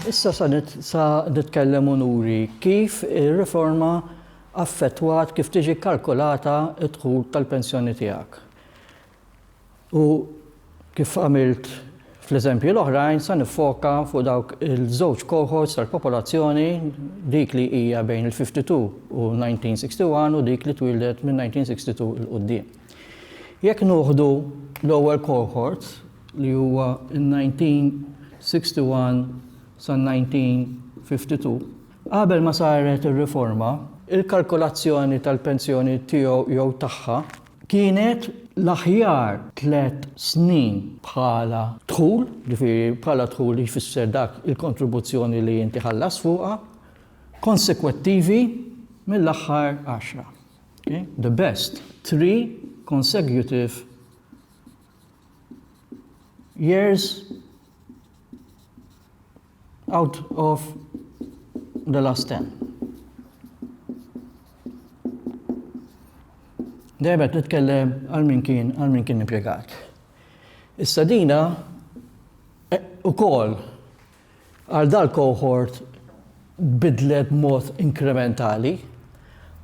Issa sa sa nitkellem unuri kif ir-riforma affettwat kif tiġi kalkulata d-dħul tal-pensjoni tiegħek. U kif għamilt fl-eżempji l-oħrajn, sa niffoka fuq dawk il-żewġ cohorts tal-popolazzjoni, dik li hija bejn il-52 u 1961 u dik li twieldet minn 1962 'il quddiem. Jekk nuħdu l-ewwel cohort li huwa in-1961 sa 1952, qabel ma saret ir-riforma, il-kalkolazzjoni tal-pensjoni tiegħu jew tagħha Kienet l-aħjar tliet snin bħala dħul, ġifieri bħala dħul jfisser dak il-kontribuzzjoni li inti ħallas fuqha, konsekwettivi mill-aħħar għaxra. Okay? The best three consecutive years out of the last ten. Dejjem qed nitkellem għal min kien għal min kien impjegat. Issa dina eh, ukoll għal dal-cohort bidlet mod inkrementali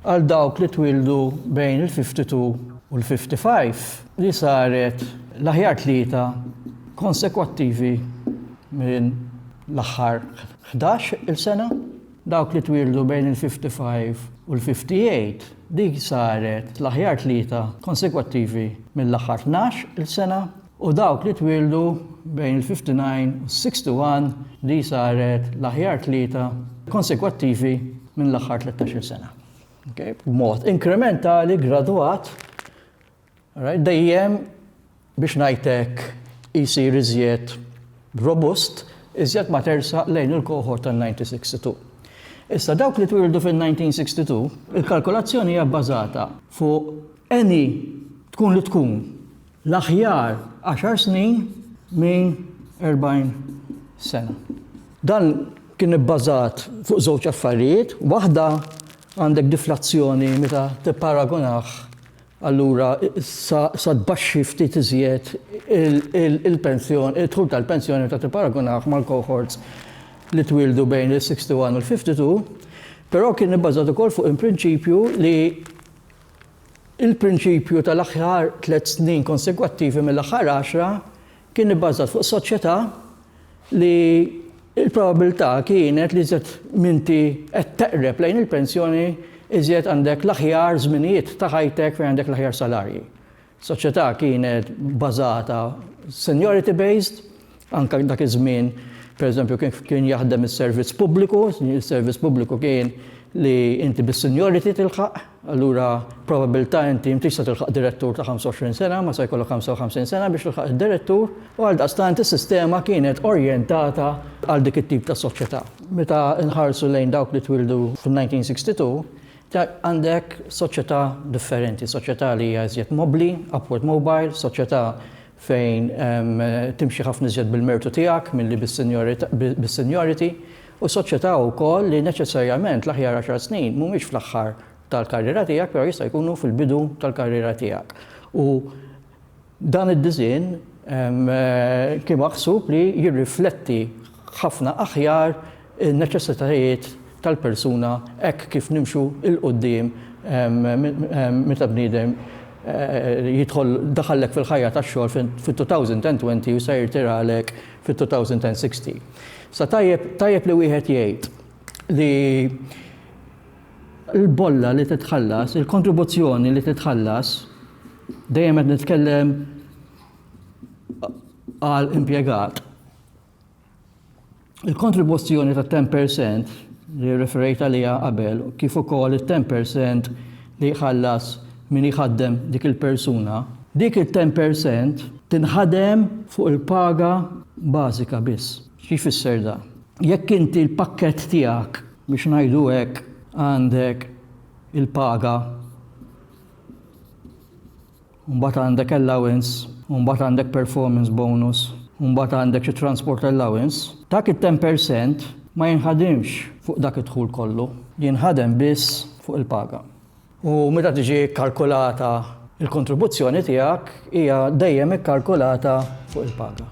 Għal dawk li twieldu bejn il-52 u l-55, li saret l-aħjar tlieta konsekwattivi minn l-aħħar ħdax il-sena, dawk li twieldu bejn il-55 u l-58, dik saret l-aħjar tlieta konsekwattivi mill-aħħar tnax il-sena. u dawk li twieldu bejn il-59 u s-61 li saret l-aħjar tlieta konsekwattivi minn l-aħħar tlettax-il sena. Okay? B'mod inkrementali, gradwat, right? dejjem biex ngħidlek isir iżjed robust, iżjed ma tersa lejn il-kohort tan-1962. Issa dawk li twildu fil-1962, il-kalkolazzjoni hija bbażata fuq any tkun li tkun l-aħjar għaxar snin minn 40 sena. Dan kien ibbażat fuq żewġ affarijiet, waħda għandek diflazzjoni meta tipparagunah allura sa tbaxxi ftit iżjed il-pensjoni, id-dħul tal-pensjoni meta tipparagunah mal-cohorts li twildu bejn il-61 u l-52, però kien ibbażat ukoll fuq il-prinċipju li Il-prinċipju tal-aħjar tliet snin konsegwattivi mill-aħħar għaxra kien ibbażat fuq soċjetà li l-probabbiltà kienet li iżjed m'inti qed teqreb lejn il-pensjoni iżjed għandek l-aħjar żminijiet ta' ħajtek fejn għandek l-aħjar salarji. Soċjetà kienet bbażata seniority based Anke dak iż-żmien, pereżempju, kif kien jaħdem is-servizz pubbliku, is-servizz pubbliku kien li inti bis-seniority tilħaq, allura probabbiltà inti m'intix se tilħaq direttur ta' 25 sena, ma se jkollok 55 sena biex tilħaq id-direttur, u għaldaqstant is-sistema kienet orjentata għal dik it-tip ta' soċjetà. Meta nħarsu lejn dawk li twildu fin-1962, għandek soċjetà differenti, soċjetà li hija iżjed mobbli, upward mobile, soċjetà fejn timxi ħafna iżjed bil-mertu tiegħek milli bis-seniority, u soċjetà wkoll li neċessarjament l-aħjar għaxar snin mhumiex fl-aħħar tal-karriera tiegħek però jista' jkunu fil-bidu tal-karriera tiegħek. U dan id-disinn kien maħsub li jirrifletti ħafna aħjar in-neċessitajiet tal-persuna hekk kif nimxu 'l quddiem meta bniedem jidħol daħallek fil-ħajja tax-xogħol fit-2020 u se jirtiralek fit-2060. Sa tajjeb tajjeb li wieħed jgħid li l-bolla li titħallas, il-kontribuzzjoni li titħallas, dejjem qed nitkellem għal impjegat, Il-kontribuzzjoni ta' 10% li referejt għaliha qabel kif ukoll it-10% li jħallas min jħaddem dik il-persuna, dik it-10% tinħadem fuq il-paga bażika biss. Xi jfisser dan? Jekk inti l-pakkett tiegħek, biex ngħidu hekk, għandek il-paga, u mbagħad għandek allowance, u mbagħad għandek performance bonus, u mbagħad għandek xi transport allowance, dak it-ten per cent ma jinħadimx fuq dak id-dħul kollu, jinħadem biss fuq il-paga. U meta tiġi kkalkulata l-kontribuzzjoni tiegħek hija dejjem ikkalkulata fuq il-paga.